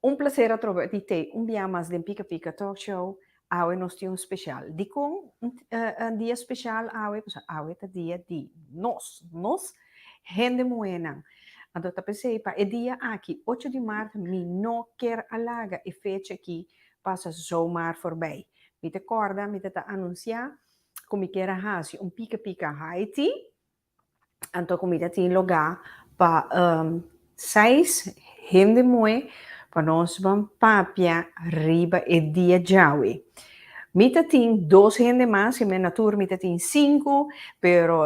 Un placer a troba di te un biaha mas den Pika Pika Talk Show. Awe nos tin un special. Dikon un dia special awe? Pasobra awe ta dia di nos, nos hende muhenan. Anto ta p'esei pa e dia aki, ocho di maart, mi no ker a laga e fecha aki pasa zo maar forbij. Mi ta kòrda mi ta ta anunciá ku mi ker a hasi un Pika Pika Haiti. Anto comida tin logá pa um, seis hende moe pa nos ban papia riba e dia djawe. Mi ta tin dos hende mas, in men natuur mi ta tin cinco, pero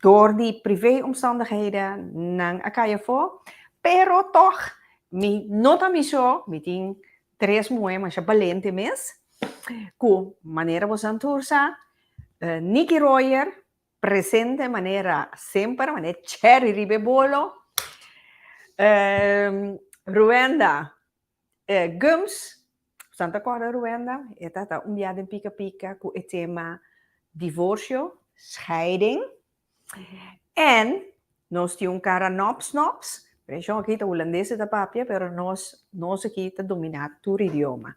door di privé omstandigheden nan a cay afo, pero toch mi no ta mi so, mi tin tres moe masha balente mes, cu manera bosan tur sa, Nicky Royer, Presente manera semper mane cherry riba e bolo Ruenda Gums San ta corda Ruenda e ta ta un bia den pica pica cu e tema divorcio scheiding en nos tin un cara nops nops Region aki ta Hulandes ta papia pero nos aki ta domina tur idioma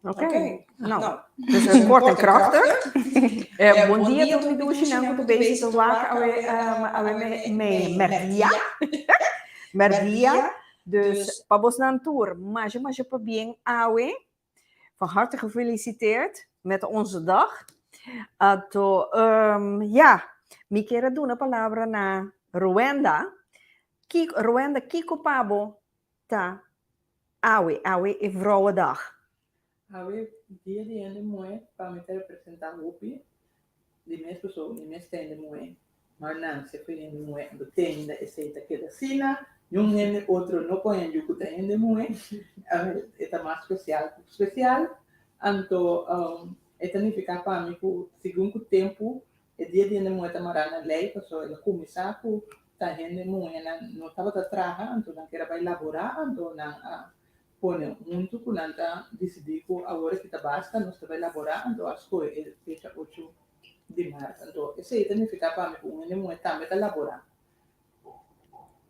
Ok, nou, dus e kort en krachtig. Bon dia tur mi dushi nan ku ta bezig ta wak awe awe me mèrdia. Mèrdia, dus pa bosnan tur masha masha pa bien awe. Van harte gefelisiteerd met onze dag. Ato ya, mi ker a duna palabra na Roenda. Kiko, Roenda, kiko pa bo Ta awe, awe e vrouwedag. Awe dia di hende muhé pa mi ta representá hopi di mes persoa, di mes hende muhé. Mar nan si fu hende muhé anto teinda esei ta keda asina, niun hende otro no con e yucu ta hende muhé, awe e ta mas special cu special. Anto e ta nifica pa mi cu segun cu tempu E dia di hende muhe ta mará na lei, pasobra el a kuminsá ku ta hende muhe nan no tabata traha anto, nan keda bai laborá anto, nan a pone huntu ku nan ta disidí ku awor aki ta basta, nos ta bai laborá anto, a skohe e fecha ochu di mart. Anto esei ta nifiká pa mi ku un hende muhe tambe ta laborá.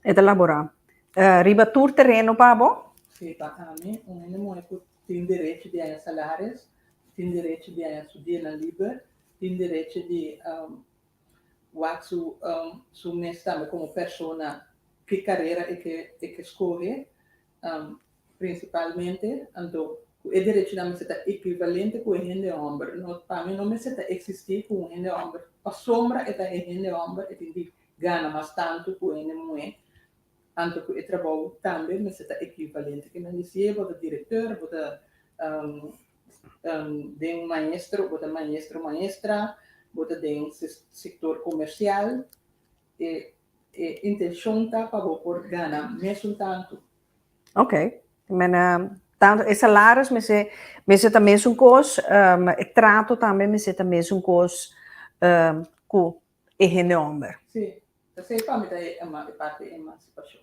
E ta laborá riba tur tereno pa bo? Sí, pa ami, un hende muhé ku tin derechi di haña salaris, tin derechi di haña su dianan liber, tin derechi di wak su mes tambe komo persona ki karera e ke skohe, Principalmente, anto, cu e derechonan mester ta equivalente cu e hende homber. No, pa mi no mester ta existi cu un hende homber, pasobra e ta e hende homber, e tin di gana mas tanto cu e hende muhe, anto cu e trabou tambe mester ta equivalente. Kico nan di si e bo ta director, bo ta den un maestro, bo ta maestro o maestra, bo ta den sector comercial, E e intencion ta pa bo por gana mesun tantu. Ok, mena tantu e salaris mester mester ta mesun cos, ehm, e trato tambe mester ta mesun cos, ehm, cu e hende homber. Si, esey pa mi ta e ema e parti emancipacion.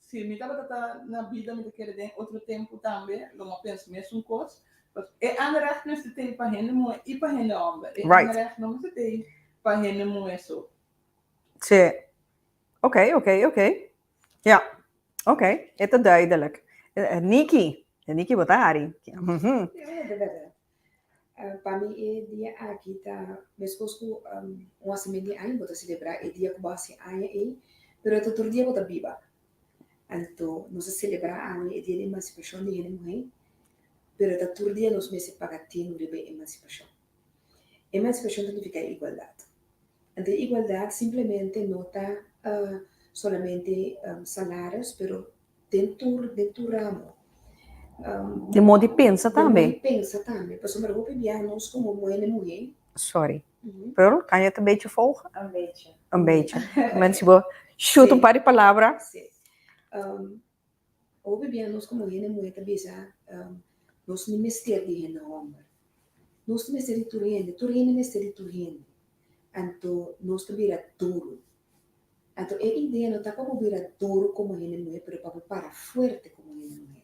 Si mi tabata ta na bida mi ta keda den otro tempu tambe lo mi a pensa mesun kos pask e anrecht mester tei pa hende muhe i pa hende homber e anrecht no mester tei pa hende muhe so. Tsje. Oké, oké, oké. Ja. Oké, e ta duidelijk. Niki, Niki bo ta hari. Hm. Pa mi e dia aki ta meskos ku un hasimen di aña bo ta selebrá e dia ku bo hasi aña ei, pero e ta tur dia bo ta biba. Anto nos ta selebrá awe e dia di emansipashon di hende muhé, pero e ta tur dia nos mester a paga tinu riba e emansipashon. Emansipashon ta nifiká igualdat. Anto e igualdat simplemente no ta solamente salaris pero. Den tur den tur ramo. De modo di pensa tambe. De modo di pensa tambe. Pasobra hopi biaha nos komo muhé den muhé. Sorry. Pearl, kan yo ta bechi foug? Un bechi. Un bechi. Bueno, si bo shuta un par di palabra. Sí. Hopi biaha nos komo muhé den muhé ta bisa nos no mester di hende hòmber. Nos ta mester di tur hende. Tur hende mester di tur hende. Anto nos ta bira duru. Anto e idea no ta pa bo bira duru komo hende muhé, pero pa bo para fuerte komo hende muhé.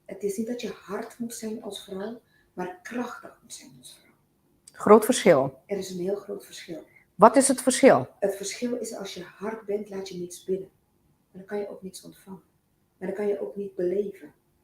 E tiesin ta tje hard mos sèn ons vrou, mar krachtig mos sèn ons vrou. Groot verschil. Er is een heel groot verschil. Wat is het verschil? Het verschil is als je hard bent laat je niks binnen. En dan kan je ook niks ontvangen. En dan kan je ook niet beleven.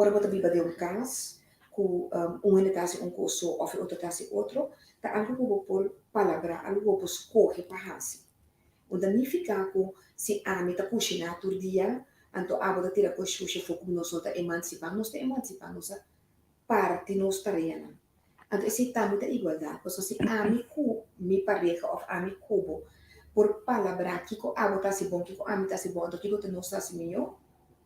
Ora bo ta biba den un kas ku un hende ta hasi un kos so òf e otro ta hasi otro, ta algu ku bo por palabrá, algu ku bo por skohe pa hasi. Bo ta nifiká ku, si ami ta kushiná tur dia, anto abo ta tira ku e shusha afó ku nos no ta emansipá. Nos ta emansipá nos a parti nos tareanan. Anto esei tambe ta igualdat, pasobra si ami ku mi pareha òf ami ku bo por palabrá kiko abo ta hasi bon, kiko ami ta hasi bon, anto kiko ta nos hasi mihó.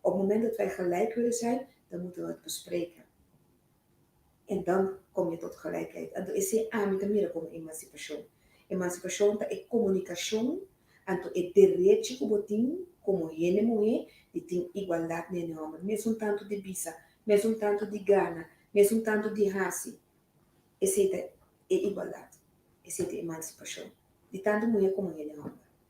Op moment dat wij gelijk willen zijn, dan moeten we het bespreken. En dan kom je tot gelijkheid. Anto esei ami ta mira como emancipacion. Emancipacion ta e comunicacion, anto e derechi cu bo tin como hende muhe di tin igualdad na hende homber, mes un tanto di bisa, mes un tanto di gana, mes un tanto di haci. Esei ta e igualdad. Esei ta emancipacion, di tanto muhe como hende homber.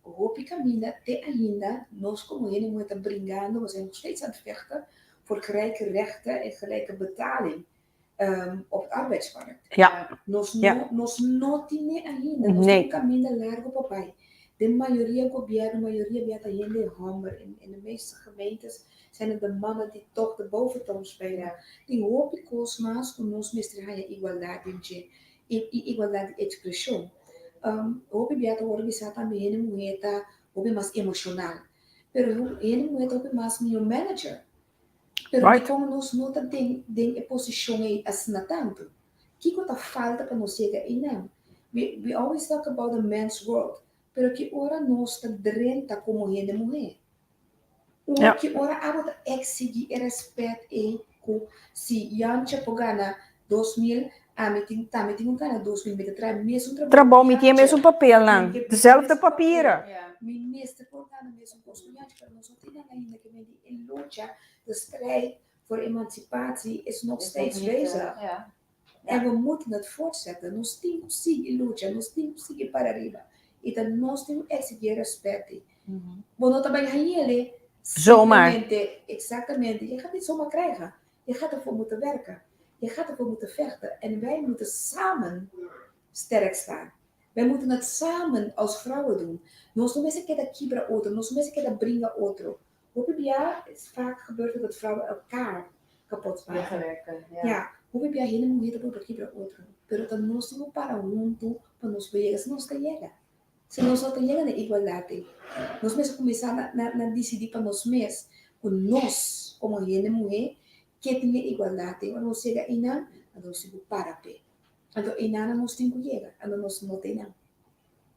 Hopi kaminda te ainda nos komo hende muhe ta bringando mas e nog steeds aan het vechten voor gelijke rechten en gelijke betaling op het arbeidsmarkt. Nos no nos no tin ne ainda nos tin un kaminda largo pa bai. Den mayoria gobièrnu mayoria bia ta hende e hòmber en en de meeste gemeentes zijn het de mannen die toch de boventoon spelen. Tin hopi kos mas ku nos mester haña igualdad den dje. i igualdad di expresion. Hopi bia ta worde bisa tambe hende muher ta hopi mas emocional, pero hende muher ta hopi mas mihor manager, pero dikon nos no ta den den e posicion ey asina tanto? Kiko ta falta pa nos yega eynan? We we always talk about the men's world, pero ki ora nos ta drenta como hende muher? Ora ki ora abo ta eksigi e rèspèt ei ku si Jan Chepo gana dos mil, ami tin tambe tin ku gana dos mil, mi ta traha e mesun trabou ku Jan Chepo. Trabou, mi tin e mesun papelnan, dezelfde papira. Mi mester por gana e mesun kos ku Jan Chepo, pero nos no tin nan ainda ke medi e lucha, de strijd for emansipatsi is nogsteits bezig. E bo mut na fortsetta, nos tin ku sigui lucha, nos tin ku sigui para riba, i ta nos tin ku eksigi e rèspèt ei. Bo no ta bai hañele simplemente, eksaktamente, ya gata soma krijga, ya gata for muta werka, ya gata for muta fègta, en bai muta samen stèrk staan. Bai muta nat samen als vrouwen doen. Nos no mester keda kibra otro, nos no mester keda bringa otro. Hopi bia es vaak gebeurt dat het vrouwen elkaar kapot paga. Ja, hopi bia hende muhe ta por bra kibra otro, pero ta nos tin cu para huntu pa nos por yega. Si nos ta yega, si nos no ta yega na igualdad ei, nos mester cuminsa na dicidi pa nos mes cu nos como hende muhe ke tin e igualdad ei. Ora nos yega einan, anto nos tin cu para p'e. Anto einan nos tin cu yega, anto nos no ta einan.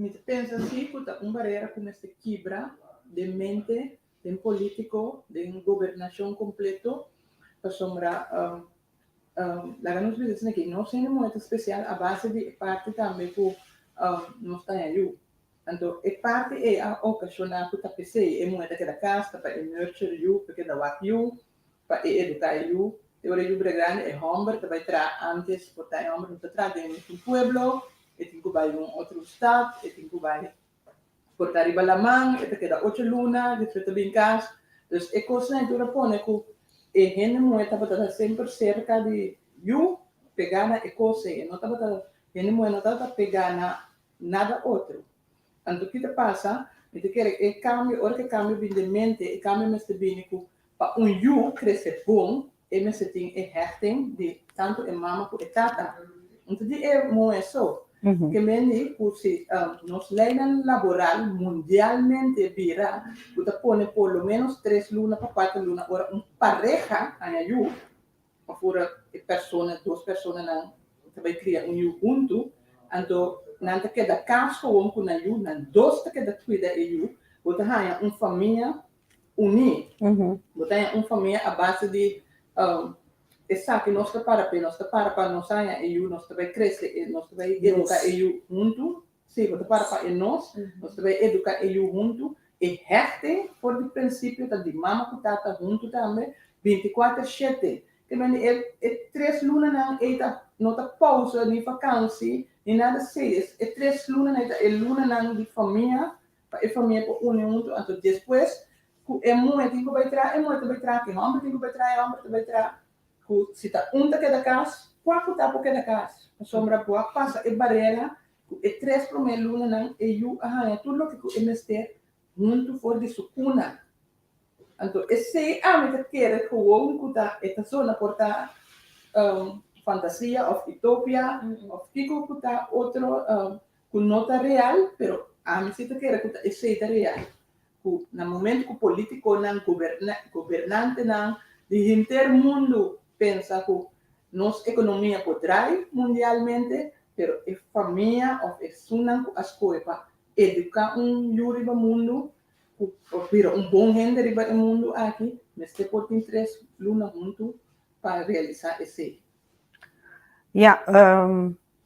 Mi ta pensa si cu ta un barera cu mester kibra den mente den politico, den gobernacion completo, pasobra laga nos bisa asina que nos hende muher ta special a base di e parti tambe cu nos ta haña yu. Anto e parti ei a ocasiona cu ta pesey e muher ta keda cas, ta bay e nurture yu, ta keda wak yu, Pa e educa e yu, te ora yu bira grandi e homber ta bay traha antes por ta e homber no ta traha den un pueblo, e tin cu bay un otro stad, e tin cu bay por ta riba laman, e ta keda ocho luna despues ta bin cas, entonces e cos nan e ta ora pone cu e hende muhe tabata ta semper cerca di yu, pega na e cos ey, e no tabata, hende muhe no tabata pega na nada otro. Anto ki ta pasa? Mi ta kere e kambio, ora ku e kambio bini den mente, e kambio mester bini ku pa un yu krese bon, e mester tin e hechting di tantu e mama ku e tata. Anto di e muhé so, ke mendi ku si nos leinan laboral mundialmente bira ku ta pone por lo ménos tres luna pa kuater luna ora un pareha haña yu, Ora e persona, dos personanan ta bai kria un yu huntu, anto nan ta keda kas gewoon ku nan yu, nan dos ta keda kuida e yu, bo ta haña un famia uní. Bo ta haña un famia a base di esaki nos ta para, p'e nos ta para pa nos haña e yu, nos ta bai krese, nos ta bai eduka e yu huntu. Sí, bo ta para pa e nos. Nos ta bay educa e yu huntu. E hechting for di principio ta di mama cu tata huntu tambe, binticuater shete. Te men di e e tres lunanan ey ta no ta pausa ni vakansi ni nada sey. E e tres lunanan ey ta e lunanan di famia pa e famia por uni huntu. Anto despues cu e muhe tin cu bay traha e muhe ta bay traha, cu e homber tin cu bay traha e homber ta bay traha. Ku si ta un ta keda kas, kua ku ta por keda kas? Pasobra ku a pasa e barera ku e tres promé lunanan, e yu a haña tur loke ku e mester huntu for di su kuna. Anto esei ami ta kere gewoon ku ta e ta zona por ta fantasia òf utopia òf kiko ku ta otro ku no ta real pero ami si ta kere ku ta esei ta real ku na momento ku politikonan gobernantenan di henter mundu pensa ku nos ekonomia por drai mundialmente pero e famia òf e sunnan ku a skohe pa eduká un yu riba mundu ku por bira un bon hende riba e mundu aki mester por tin tres luna huntu pa realisá esei. Ya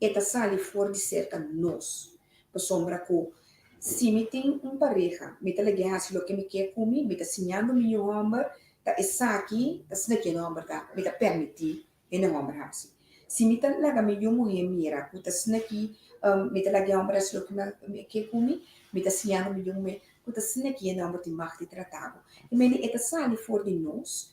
e ta sali for di serka nos, pasobra ku si mi tin un pareha, mi ta lag'é hasi loke mi ke ku mi, mi ta siñando mi yu hòmber, ta esaki ta snaki e hòmber ta, mi ta pèrmití e hòmber hasi. Si mi ta laga mi yu muhé mira ku ta snaki, mi ta laga e hòmber hasi loke mi ke ku mi, mi ta siñando mi yu muhé ku ta snaki e hòmber tin mag di tratá bo. Mendi e ta sali for di nos,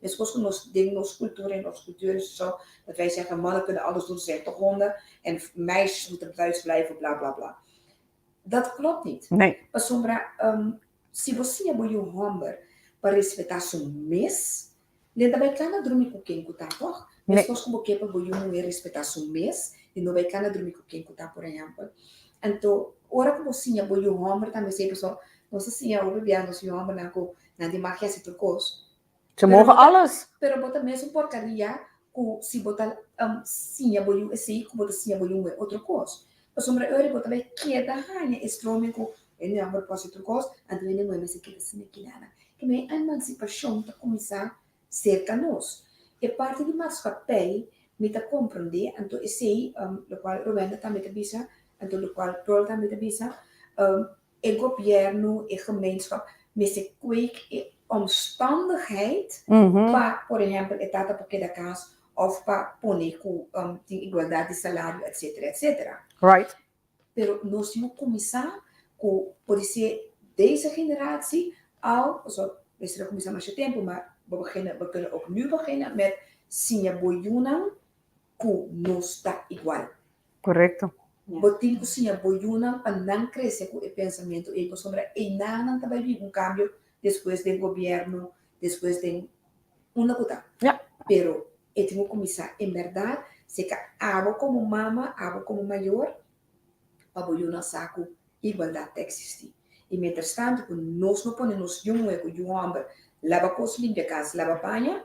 Meskos ku nos den nos kultura en nos kultuur is zo dat wij zeggen mannen kunnen alles doen, ze zijn toch honden en meisjes moeten thuis blijven bla bla bla. Dat klopt niet. Nee. Pasobra si bo siña bo yu homber pa respetá su mes, den ta bai kla na drumi ku ken ku ta tòg. Meskos ku bo ke pa bo yu muhé respetá su mes, den no bai kla na drumi ku ken ku ta, por ehèmpel. Anto ora ku bo siña bo yu homber tambe esei pasobra nos ta siña hopi biaha nos yu hombernan ku nan di magia si tur cos. Bo mogen alles. Pero bo ta mesun porcaria cu si bo ta siña bo yu esey cu bo ta siña bo yu un otro cos. Pasobra e ora bo ta bay keda haña e strooming cu e no a por cos si tur cos, anto e no a mester keda sin e kinanan. Kibay e emancipacion ta cuminsa cerca nos. E parti di maatschappij mi ta comprende, anto esey locual Rowenda tambe ta bisa, anto locual Rolf tambe ta bisa, E gobièrnu, e gemeenschap mester kweek e omstandigheid pa por ehèmpel e tata por keda kas òf pa pone ku tin igualdat di salario etsetera etsetera. Pero nos tin ku kuminsá ku por di se dese generasi al pasobra mester a kuminsá masha tempu, ma bo kende òf nu begina mèt siña bo yunan cu nos ta igual. Correcto. Bo tin cu siña bo yunan pa nan crece cu e pensamiento ey pasobra eyna'nan ta bay bibi un cambio despues den gobierno, despues den unda cu ta. Ya. Pero e tin cu cuminsa en berdad, si e ca abo como mama, abo como mayor, pa bo yunan sa cu igualdad ta existi. Y mientras tanto cu nos no pone nos yu muher cu yu homber laba cos, limpia cas, laba baña,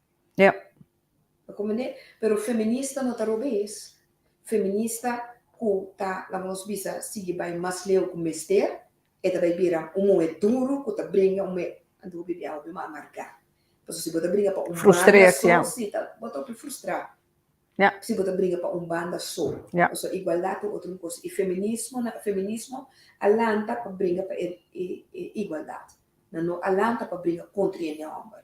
Yep. Ta como ne, pero feminista no ta robes, feminista cu ta la nos bisa sigui bay mas leu cu mester e ta bay bira un muhe duro cu ta bringa un muhe anto bo bibi awe biba amarga pasobra si bo ta bringa pa un banda so si ta bo ta hopi frustra si bo ta bringa pa un banda so pasobra igualdad ta un otro cosa y feminismo na feminismo a lanta pa bringa pa e igualdad na no a lanta pa bringa contra ña homber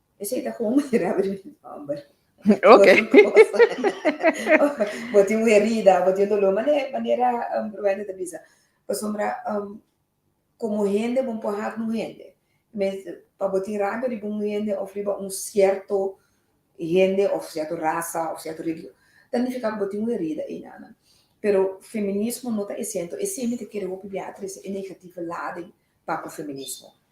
Esei ta komo manera abri mi nomber. Ok. Bo tin un herida, bo tin un dolor, mane, manera um, Rowena ta bisa. Pasobra, um, komo hende bo por hat un hende. Mes, pa bo tin rabia riba un hende of riba un sierto hende of sierto rasa of sierto religion, ta nifiká ku bo tin un herida einanan. Pero feminismo no ta esento. E siempre ta kere hopi biatrese e negativo laden papia feminismo.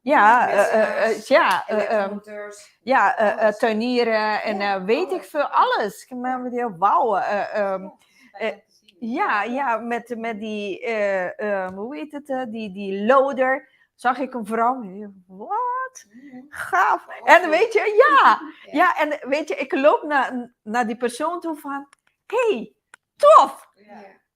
Ja, ja, ja, turnieren en weet ik veel alles. Ik meen met die wauw. Ja, ja, met die, hoe heet het, die, die loader. Zag ik een vrouw, wat? Gaaf. En weet je, ja, ja, en weet je, ik loop naar, naar die persoon toe van, hey, tof.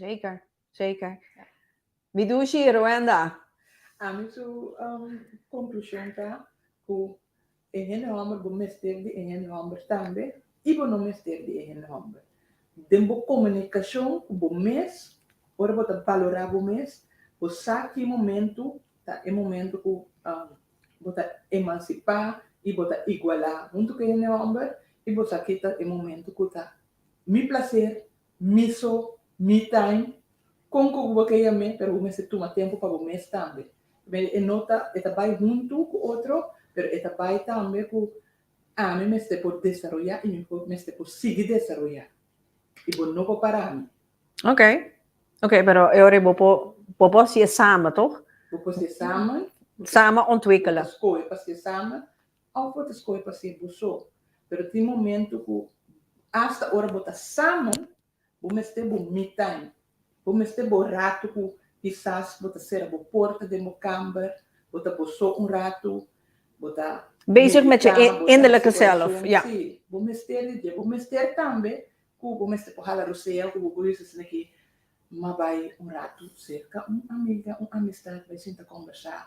Zeker, zeker. Mi dushi, Ruenda. Ami su um, conclusion ta cu e hende homber bo mester di e hende homber tambe y bo no mester di e hende homber. Den bo comunicacion cu bo mes, ora bo ta valora bo mes, bo sa ki momento ta e momento cu um, bo ta emancipa y bo ta iguala hunto cu e hende homber y bo sa ki ta e momento cu ta Mi placer, mi so, mi time, con cu bo ke yam'e pero bo mester tuma tempo pa bo mes tambe. P'esei e no ta e ta bai huntu cu otro pero e ta bai tambe cu ami mester por desaroya y mi por mester por sigui desaroya y bo no por parami. Ok. Ok, pero e ora bo por bo por haci e samen, toch? Bo por haci e samen. Samen ontwikkelen. Bo ta scoge pa haci e samen. Of bo ta skohe pa ser bo so, pero tin momentu ku asta ora bo ta samen, bo mester bo me time. Bo mester bo ratu ku kisas bo ta sera bo porta den bo kamber, bo ta bo so un ratu, bo ta Bezig met je meditá, bo ta hasi innerlijke zelf, oracion. ja. Sí, bo mester di dje. Bo mester tambe ku bo mester por hala rusea ku bo por bisa esnan ke, m'a bai un ratu serka un amiga, un amistad, bai sinta kombersá.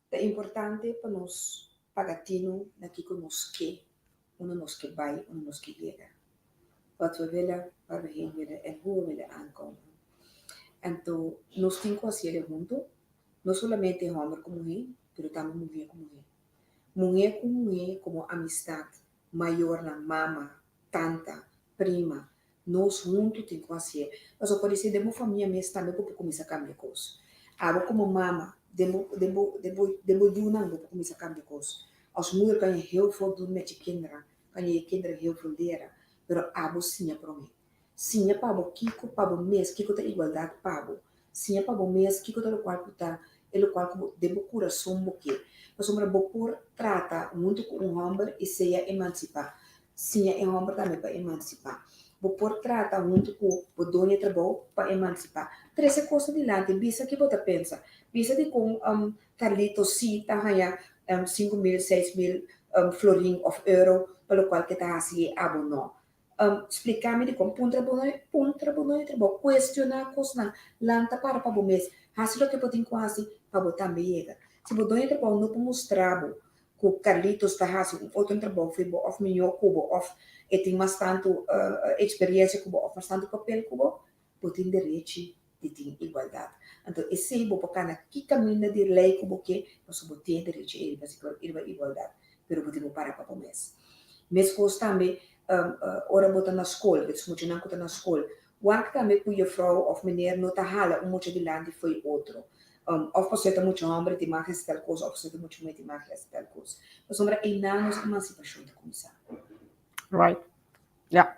Ta importante pa nos paga tino na kiko nos ke, unda nos ke bai, unda nos ke yega. Wat we wille, Waar we heen willen en hoe we willen aankomen. Anto nos tin ku hasi elen huntu, no solamente hòmber ku muhé, pero tambe muhé ku muhé. Muhé ku muhé komo amistat mayornan, mama, tanta, prima, nos huntu tin ku hasié. Pasobra bo por di si den bo famia mes tambe bo por kuminsá kambia kos. Abo komo mama, den bo den bo den bo den bo yunan bo por kuminsá kambia kos. Os muer kaña heu for durmi achi kinderan, kaña e kinderan heu for lera, pero abo siña promé. Siña pa bo kiko pa bo mes kiko ta igualdat pa bo. Siña pa bo mes kiko ta lokual ku ta e lokual ku bo den bo kurason bo ke. Pasobra bo por trata huntu ku un hòmber i seya emansipá, siña e hòmber tambe pa emansipá. Bo por trata huntu ku bo doña trabou pa emansipá. Tres e kos adelante, bisa ke bo ta pensa. Bisa dikon Carlito sí ta haña sinku mil, seis mil florin òf euro pa lokual ke ta hasi e abo nò. Spliká mi di kon puntra bo no e puntra bo no e trabou. Kuestioná kosnan. Lanta para pa bo mes. Hasi loke bo tin ku hasi pa bo tambe yega. Si bo doño trabou no por mustra bo ku Carlitos ta hasi un otro trabou for bo òf miñó ku bo òf e tin mastantu eksperiensia ku bo òf mastantu papel ku bo, bo tin derechi di tin igualdat. Anto esei bo por kana ki kaminda di lei ku bo ke, pasobra bo tin e derechi ei riba sigur, riba igualdat, pero bo tin ku para pa bo mes. Meskos tambe ora bo ta na skol, des muchanan ku ta na skol, wak tambe ku yefrouw òf meneer no ta hala un mucha dilanti fo'i otro. Òf pasobra e ta mucha hòmber tin mas hasi tal kos, òf pasobra e ta mucha muhé tin mas ke hasi tal kos. Pasobra einan nos emansipashon ta kuminsá. Right. Ya.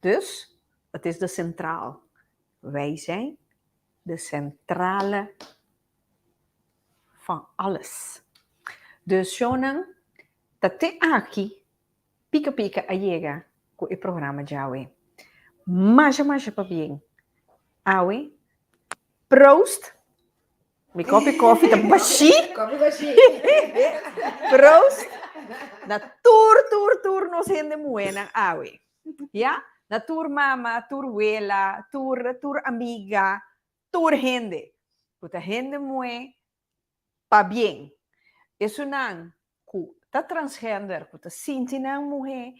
Dus, ot is de centraal. Wij zijn de centrale van alles. Dus shownan ta te aki, pika pika a yega cu e programa djawe. Masha masha pabien. Awe, proost Mi kopi kofi ta bashi. kopi bashi. Proost na tur tur tur nos hende muhénan awe. Ya? Na tur mama, tur wela, tur tur amiga, tur hende ku ta hende muhé pa bien. Esunnan ku ta transgender ku ta sinti nan muhé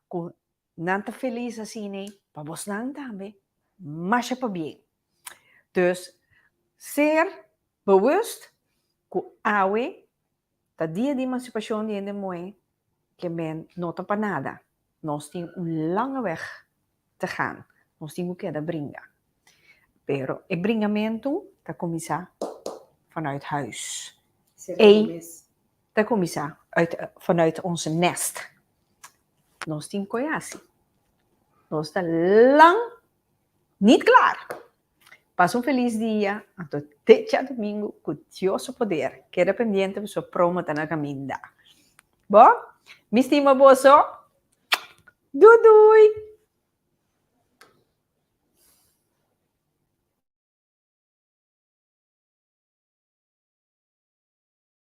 ku nan ta felis asina pa bosnan tambe masha pa bien dus ser bewust ku awe ta dia di emansipashon di hende muhé kember no ta pa nada Nos tin un langa weg te gaan. Nos tin cu keda bringa. Pero e bringamentu ta cuminsa vanuit huis. Ey ta cuminsa vanuit ons nest. Nos tin cu e haci. Nos ta lang niet klaar. Pasa un felis dia, anto teca domingo cu Dios su poder. Keda pendiente boso promo ta na caminda. Bo? Mi stima boso. Doei doei!